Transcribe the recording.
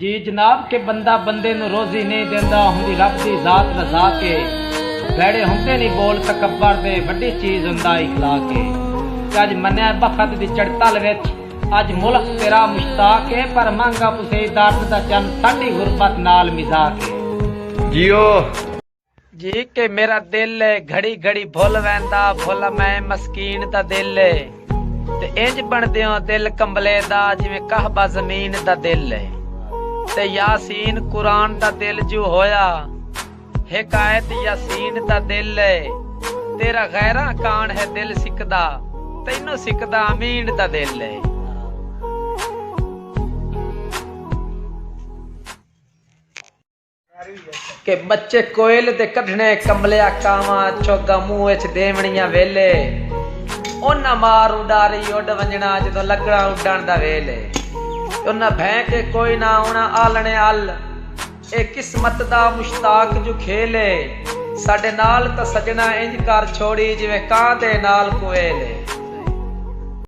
جی جناب کہ بندہ بندے نو روزی نئیں دیندا ہوندی رب دی ذات مذاق اے بھیڑے ہوندے نی بول تکبر دے وڈی چیز ہوندا اخلاق اے تے اج منیا بخت دی چڑتل وچ اج ملک تیرا مشتاق اے پر مہنگا پسیدارد دا چن ساڈی غربت نال مذاق اے جیو۔ جی کہ میرا دل ہے گھڑی گھڑی بھول ویندا بھول میں مسکین دا دل ہے تے انج بن دیو دل کمبلے دا جویں کہبہ زمین دا دل ہے تے یاسین قرآن دا دل جو ہویا حکایت یاسین دا دل ہے تیرا غیرہ کان ہے دل سکدا تینو سکدا امین دا دل ہے کہ بچے کوئل دے کڈھنے کملیا کاواں چوگا منہ اچ ڈیونڑیاں ویلے انہاں مار اڈاری اڈ ونجنا جدوں لگنا اڈن دا ویل اے انہاں بھیں کے کوئی نہ آونا آلنے ال اے قسمت دا مشتاق جو کھیل اے ساڈے نال تاں سجنا انج کر چھوڑی جویں کاں دے نال کویل اے